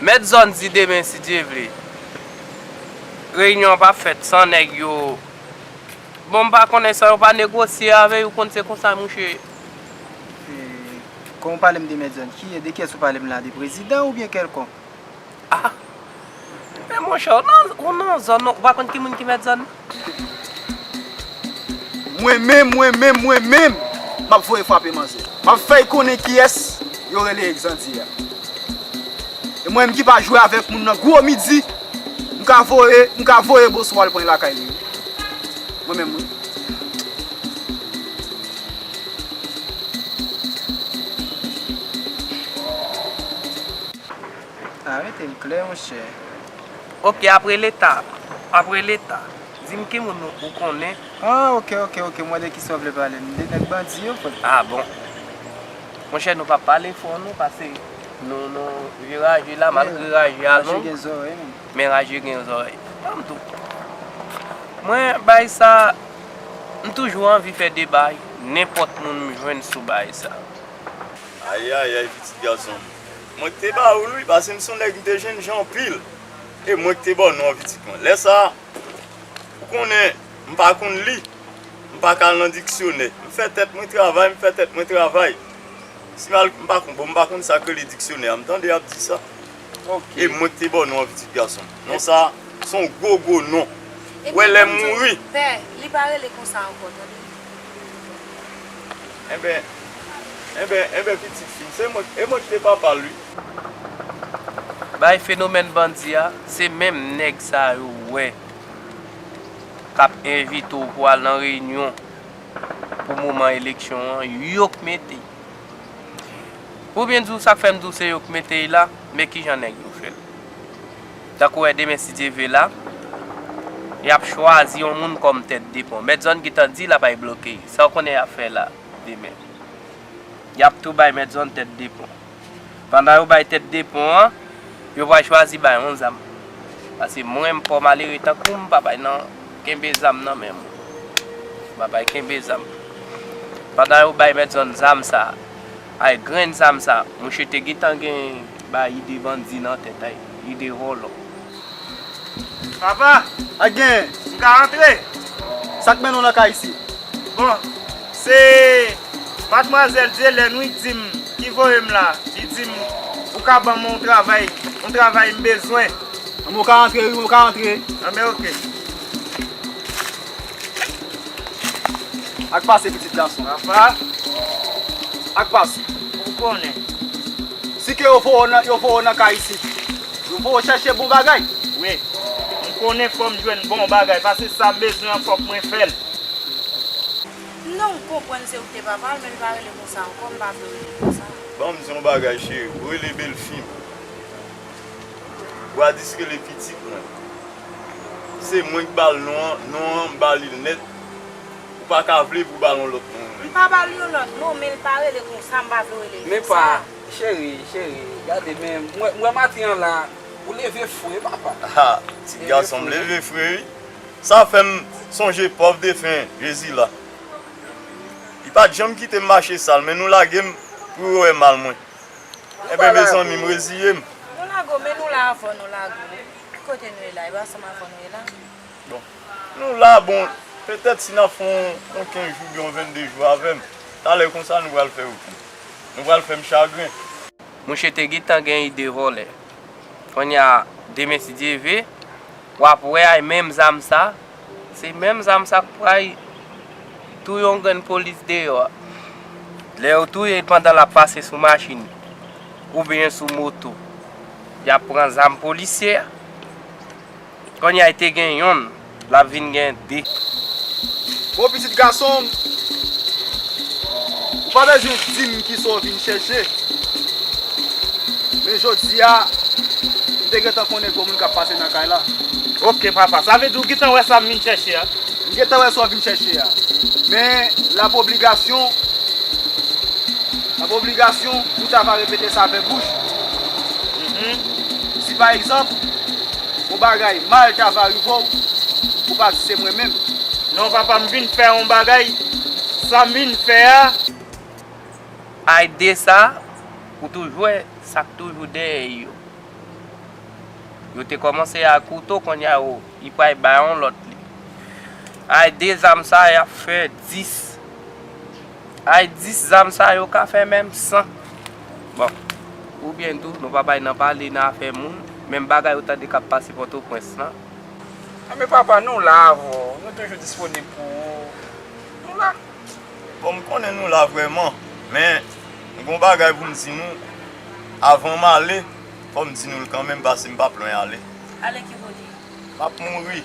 Mèt zòn di demen si Dye vle reyinyon an pa fèt san nèg yo bon m pa konnen san yo pa negosye avè yo ou konn se konsa mouche. Kon ou pale m de mèt zòn ki de kiyès ou pale m la de prezidan ou byen kèlkonk? Ah men monchè ou nan zòn ou pa konn ki moun ki mèt zòn nan? Mwen menm, mwen menm, mwen menm, m ap voye frape manzè. M ap fè y konnen kiyès yo rele Exandy a. E mwen menm ki pa jwe avèk moun nan gwo midi, m ka voye, m ka voye Bosou al pran y lakay li wi. Mwen menm wi. Arete l klè monchè. Ok apre leta apre leta. Dim ki moun ou konnen. Ah ok ok ok mwen de kisa ou vle pale m de nèg bandi yo frè. Ah bon Monchè nou pa pale fò non pase nou nou vye raje la malgre raje a long men raje gen zòrèy tanm tou mwen bay sa m toujou anvi fè deba nenpòt moun m jwenn sou bay sa. Ayayay pitit gason m Mwen k te ba ou l wi pase m son nèg m te jènjan anpil e mwen k te ba w non an pitit mwen. Lè sa a, ou konnen, m pa konn li, m pa ka al nan diksyonè. M fè tèt mwen travay, m fè tèt mwen travay. Si m al, m pa konn, bon m pa konn sa k rele diksyonè a. M tande y ap di sa. E mwen k te ba w non an pitit gason m. Non sa a, s on gwo gwo non. Ou wè lè m mouri. Pè, li pa rele konsa ankò tande. Enben, enben, enben pitit fi, se mwen, e mwen ki te papa l wi. Bay fenomèn bandi a, se menm nèg sa yo ou wè k ap envite w pou al nan reyinyon pou moman eleksyon an, yo k mete. Pou byen di w, sa k fè m di w se yo k mete y la, men kijan nèg yo fè l. Tankou wè demen si Dye ve la, y ap chwazi yon moun kòm tèt de pon. Mèt zòn gentan di l ap ay bloke. Sa w konnen y ap fè la demen? Y ap tou bay mèt zòn tèt de pon. Pandan yo bay tèt de pon an, yo pral chwazi bay on zam. Pase mwen m pa w malere tankou m pa bay nan kenbe zam nan men moun. M pa bay kenbe zam. Pandan yo bay mèt zòn zam sa a, ay grenn zam sa a, mouche te gentan gen bayi de bandi nan tèt ay. Li de volo. Papa! Ak genyen? M ka antre? Sa k mennen w nan kay isi? Bon, se Madmwazèl Dyelèn wi, di m, ki voye m la. Li di m ou ka ban m yon travay, yon travay m bezwen. Anben w ka antre wi, w ka antre. Anben ok. Ak pase pitit gason. Apa. Ak pase. Ou konnen. Si ke yo voye w nan, yo voye w nan kay isit. Yo voye w chèche bon bagay. Wi. M konnen fò m jwenn bon bagay, pase sa m bezwen an fòk mwen fè l. Non, m konprann se ou ki te papa l, men li pa rele konsa ankò, m pa vle w rele l konsa. Ban m di w yon bagay cheri, ou rele belfi m. Gwadis rele pitit mwen. Se mwen ki ba l non an, non an m ba li l nèt. Ou pa ka vle pou w ba l yon lòt non. M pa ba l yon lòt non, men l pa rele konsa, m pa vle w rele l konsa. Men pa, cheri, cheri, gade men, m wè maten an la, ou leve fre wi papa. Ha, ti gason m leve fre wi. Sa fè m sonje pòv defen Jezila. Li pa t janm kite m mache sal, men nou lage m pou yo wè mal mwen. Enben mezanmi m reziye m. Nou lage w, men nou la avan nou lage w. Ki kote nou ye la? E pa ansanm avè w nou ye la? Bon, nou la bon, petèt si n ap fè yon kenz jou oubyen yon vennde jou avè m, talè konsa nou pral fè okenn. Nou pral fè m chagren. Mouche te gentan gen ide vòlè. Konnya, demen si Dye ve, w ap wè ay menm zam sa. Se menm zam sa k pray touye yon grenn polis deyò a. Lè yo touye l pandan l ap pase sou machin oubyen sou moto, y ap pran zam polisye a. Konnya l te gen yonn, l ap vin gen de. Bon pitit gason m, Ou pa bezwen di m ki sa w vin chèche. Men jodi a, m te gentan konnen gwo moun k ap pase nan kay la. Ok papa, sa vle di ou gentan wè sa m vin chèche a? M gentan wè sa w vin chèche a. Men, l ap obligasyon, l ap obligasyon pou w ta va repete sa avèk bouch ou. Si pa egzanp. Bon bagay mal ta va rive w ou pa di se mwen menm. Non papa m vin fè yon bagay sa m vin fè a. Ay desa ou toujou wè sak toujou dèyè yo yo te kòmanse ak ou to konnya yo y pray bay yon lòt li ay de zam sa yap fè 10. Ay 10 zam sa yo ka fè menm san bon ou byen tou nou pa bay nan pale nan afè moun menm bagay ou tande kap pase pòtoprens lan. Anben papa nou la avèw nou toujou disponib pou ou nou la. Bon m konnen nou la vrèman men m gon bagay pou m di nou avan m ale fò m di nou l kanmenm pase m pap lwen ale. Ale ki kote? M ap mouri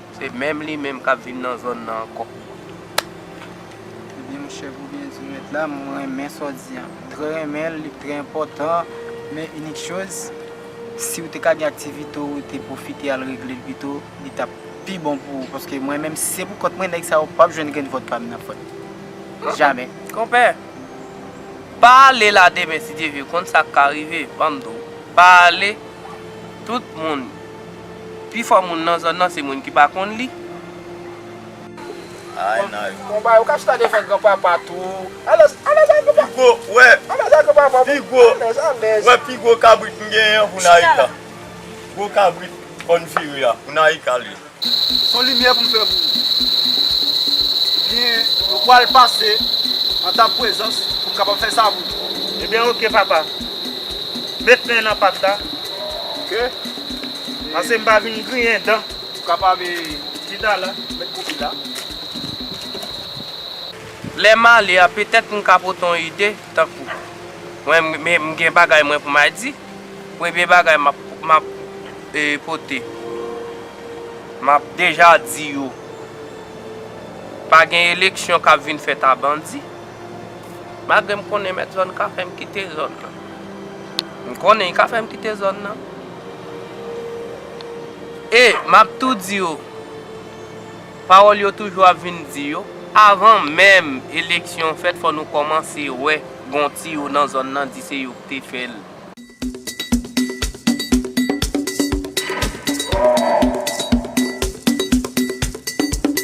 Se menm li menm kap viv nan zòn nan ankò. Ebyen m chef oubyen di met la m renmen sa w di an m trè renmen l li trè enpòtan men inik choz si w te ka gen aktivite w te pwofite al regle l pito li tap pi bon pou ou paske mwen menm si se pou kont mwen nèg sa yo pap jwenn grenn vòt pa m nan fòt jamè. Konpè pa ale la demen si Dye vle konn sak ka rive banm di w pa ale tout moun Pi fò moun nan zòn nan se moun ki pa konn li. Ay nan yo. Bon bagay ou ka chita devan gran papa tou. Alèz alèz a gran papa. Pi gwo wè. Alèz a gran papa. Pi gwo. Alèz alèz. Wè pi gwo kabrit m genyen an pou Naïka. Gwo kabrit kòn vire a pou Naïka li. Son limyè pou m fè pou ou. Ebyen nou pwal pase an ta pwezans pou m kapab fè sa pou ou. Ebyen ok papa. Met men nan pat la. Ok. Pase m pa vin griyen dan. Ou kapab tout ala met kopi la. Lè m ale a petèt m ka pote yon ide tankou mwen m gen bagay mwen pou m a di. Premye bagay m ap pote m ap deja di yo pa gen eleksyon k ap vin fèt a bandi. Malgre m konnen mèt zòn ka fè m kite zòn nan. M konnen y ka fè m kite zòn nan. E m ap tou di yo, pawòl yo toujou ap vin di yo, avan menm eleksyon fèt fò nou kòmanse wè gon tiyo nan zòn nan di se yo k te fè l.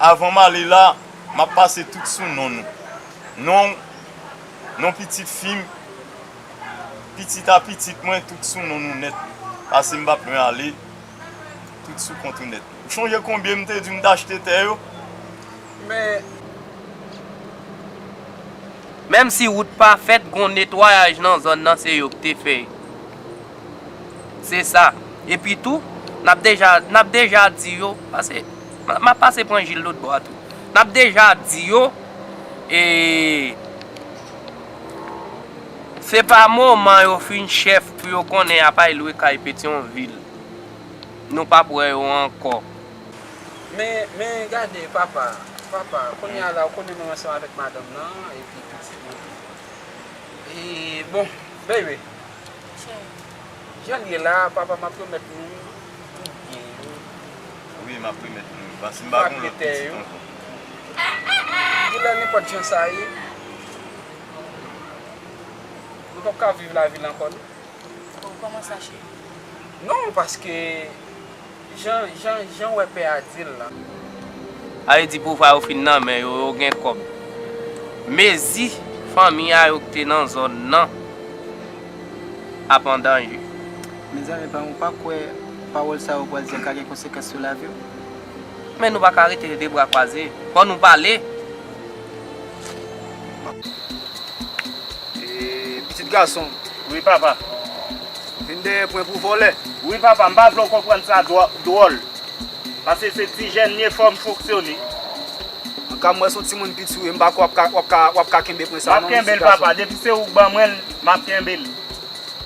Avan m ale la, m ap pase tout sou non nou. Non, non pitit fi m, pitit a pitit mwen tout sou non nou nèt. Pase m pa p lwen ale, tout sou kont ou nèt. Ou chonje konbyen m te di w m t achte tè yo? Men. Menm si wout pa fèt, gon netwayaj nan zòn nan se yo k te fè. Se sa. Epi tou, n ap deja, n ap deja di yo, pase, m ap pase pran Jil lotbò a tou. N ap deja di yo, e, se pa moman yo fin chèf pou yo konnen y ap ay lwe kay Petyonvil. Nou p ap wè yo ankò. Men, men, gade, papa, papa, kounye a la, ou konnen mwen ansanm avèk madanm nan, epi pitit mwen. E, bon, baby. Janl ye la papa map remèt nou tout byen yo. Wi map remèt nou yo pa sim pa gon lòt pitit ankò. Genlè nenpòt jan sa ye nou pap ka viv lavil ankò non. Bon kòman sa cheri. Non paske. Jan jan janw wè pè a dil lan. Avle di pouvwa yo fin nan men yo yo gen kob mezi fanmi a yo kte nan zòn nan ap andanje. Mezanmi pam ou pa kwè pawòl sa yo pral di a ka gen konsekans sou laviw. Men nou paka rete de bra kwaze fò nou pale. Pitit gason, Wi papa. Vin dèyè pwen pou vòlè. Wi papa, m pa vle w konprann sa dwòl. Pase se ti jèn m ye fò m fonksyone. An ka m wè se w timoun piti w ye m pa kwè w ap ka kenbe pwen sa non pitit gason. M ap kenbe l papa, depi se ou k ban mwen l m ap kenbe l.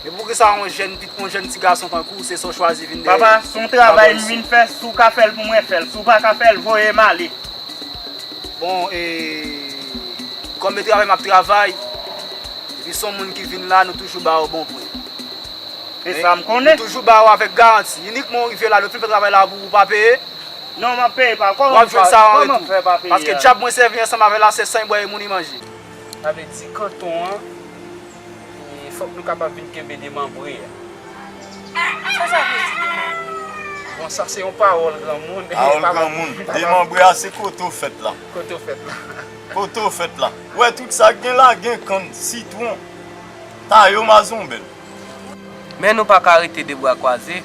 Epi poukisa yon jèn ti gason tankou w se sa w chwazi vin dèyè. Papa, se yon travay m vin fè si w ka fè l pou mwen fè l si w pa ka fè l voye m ale. Bon e Kòm e travay map travay Epi son moun ki vin la nou toujou ba yo bon pri Se sa m konnen Nou toujou ba yo avèk garanti Inikman ou rive la lè ou fin fè travay la pou ou pa peye Non map peye pa Kòman Wap jwenn sa an retou Kòman fè pa peye Paske djab mwen sèvi ansanm avè la se san e bwè e mouri manje Sa vle di kanton an Fòk nou kapab vin kenbe demanbre a. Sa sa vle di demanbre? Bon sa se yon pawòl granmoun. Pawòl granmoun. Demanbre a se kote ou fèt la. Kote ou fèt la. Kote ou fèt la. Ou wè tout sa gen la gen kann, sitwon, tayo mazonbèl. Men nou pa ka rete de bra kwaze.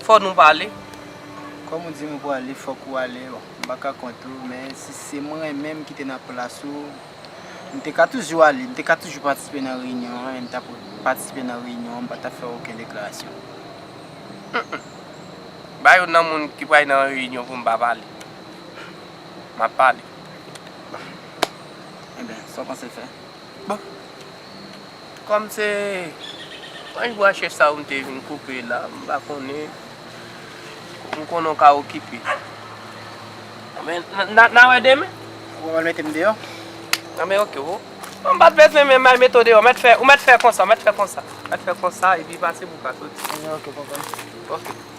Fò nou pale. Kòm ou di m ou pwale fòk ou ale. M pa ka kont ou men si se mwen menm ki te nan plas ou. M te ka toujou ale, m te ka toujou patisipe nan reyinyon an e m t ap patisipe nan reyinyon an, m pa t ap fè okenn deklarasyon. Humm. Ba yo nan moun ki pral nan reyinyon pou m pa pale. M ap pale. Bon. Enben, sa w panse fè? Bon. Kòm se branch bwa chèch sa ou m te vin koupe la, m pa konnen. M konnen ou ka okipe. Men, n a wè demen. Ou pral mete m deyò? An men oke. Ou pa t bezwen menm al mete w deyò. Mèt fè, ou mèt fè konsa, mèt fè konsa. Mèt fè konsa epi pase pou w ka soti. An men oke, pwoblèm. Oke.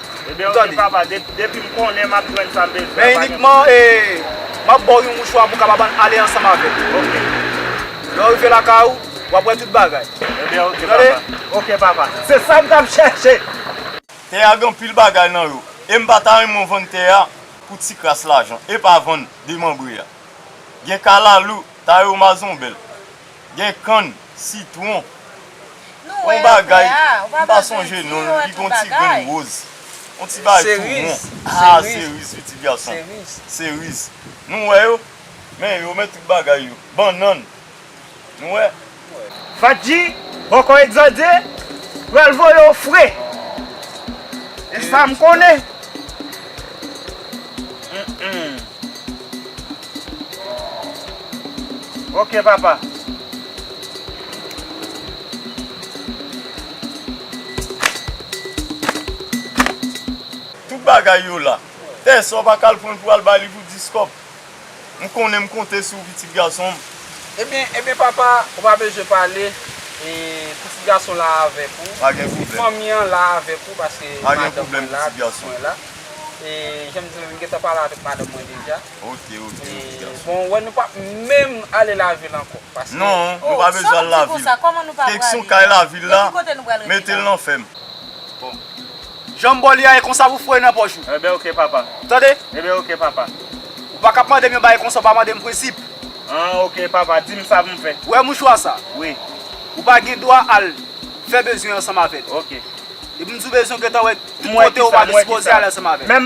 Ebyen ok Tande. papa de, depi m konnen map jwenn sa m bezwen an Men pa gen inikman pwoblèm. e map baw yon mouchwa pou w kapab an ale ansanm avè m. Ok. Lè w rive lakay ou, wap wè tout bagay. Ebyen ok Ou tande? papa. Ok papa. Se sa m tap chèche! Tè a gen anpil bagay nan yo e m pa ta renmen w vann tè a pou ti kras lajan. Epa vann demanbre a. Gen kalalou, tayo mazonbèl. Gen kann, sitwon, yon bagay m pa sonje non l li gen yon ti grenn woz, yon ti bagay tou won, a seriz wi ti gason, seriz nou wè yo, men yo men tout bagay yo, bannann nou wè. Fatji, bòkò Exade pral voye w fre, e sa m konnen. Ok papa. Tout bagay yo la. Pè sa w pa ka al pran l pou al ba li pou 10 kòb. M konnen m konte sou ou pitit gason m. Ebyen ebyen papa ou pa bezwen pale e pitit gason la avèk ou. Pa gen pwoblèm. Fanmi an la avèk ou paske madanm mwen la, pitit mwen la. Pa gen pwoblèm pitit gason. E jan m di w m gentan pale avèk madanm mwen deja. Ok ok ok gason. Bon wè nou pap menm ale lavil ankò paske. Non nou pa bezwen al lavil. Keksyon kay lavil la metel nan fèm. Bon janm baw li a e konsa pou foye nan pòch ou. Ebyen ok papa. Tande. Ebyen ok papa. Ou pa kap mandem yon bagay konsa ou pa mandem prensip. An ok papa dim sa poum fè. Ou wè mouchwa sa. Wi. Ou pa gen dwa al fè bezwen ansanm avèl. Ok. Epim diw bezwen ou gentan wè. Mwen ki sa mwen ki sa.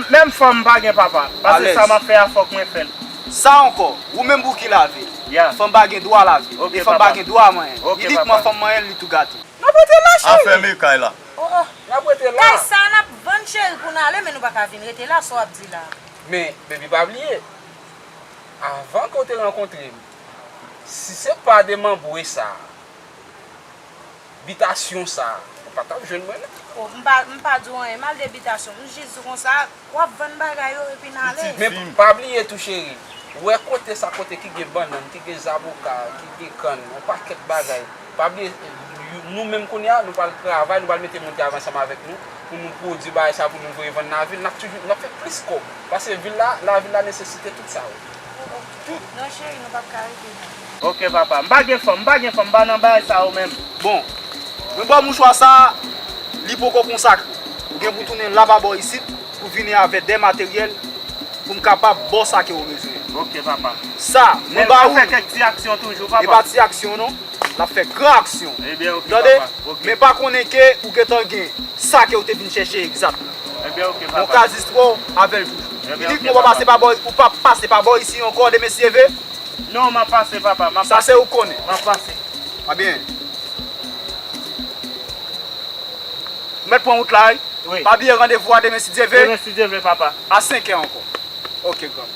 Menm fanm pa gen papa. Pase sa map fè a fok mwen fèl. Sa anko? Ou menm pou ki lavi? Fanm pa gen dwa lavi. E fanm pa gen dwa manyen. Inikman fanm manyen li tou gate. Nap rete la cheri. A fème kay la. Oh oh nap rete la. Kay sa nap vann cheri pou nou ale men nou paka vin rete la sa wap di la. Men baby pa bliye. Avan ke w te rankontre m. Si se pa de manbwe sa. Bitasyon sa ou pa tap jwenn mwen nan. Oh m pa m pa di w anyen m al de bitasyon m jis di w konsa wap vann bagay yo epi n ale. Men pa bliye tou cheri ou wè kote sa kote ki gen bannann ki gen zaboka ki gen kann yon pakèt bagay pa bliye nou menm kounye a nou pral travay nou pral mete moun ki ap ansanm avèk nou pou nou pwodui bagay sa pou nou voye vann nan vil n ap toujou n ap fè plis kòb paske vil la lavil la nesesite tout sa yo tout. Non cheri nou pap ka rete nan. Ok papa. M pa gen fanm, m pa gen fanm, m pa nan bagay sa yo menm. Bon. Mwen ba w mouchwa sa a, li poko konsakre. Ou gen pou w tounen la ba bò isit pou w vini avè de materyèl pou m kapab ba w sa ke ou bezwen an. Ok papa. Sa, mwen ba ou. Men l ap fè kèk ti aksyon toujou papa. E pa ti aksyon non. L ap fè gran aksyon. Ebyen ok papa. Tande? Ok. Men pa konnen ke ou gen tan gen sa ke ou te vin chèche egzatman. Ebyen ok papa. Bon kazistro, avè l toujou. Ebyen ok papa. Inikman w pa pase pa bò, ou pa pase pa bò isi ankò de mesye ve. Non map pase papa map pase. Sa se ou konnen. Map pase. A byen. Ou met pran wout la wi. Wi. Pa bliye randevou a demen si Dye ve. Demen si Dye ve papa. A 5 è anko. Ok granm.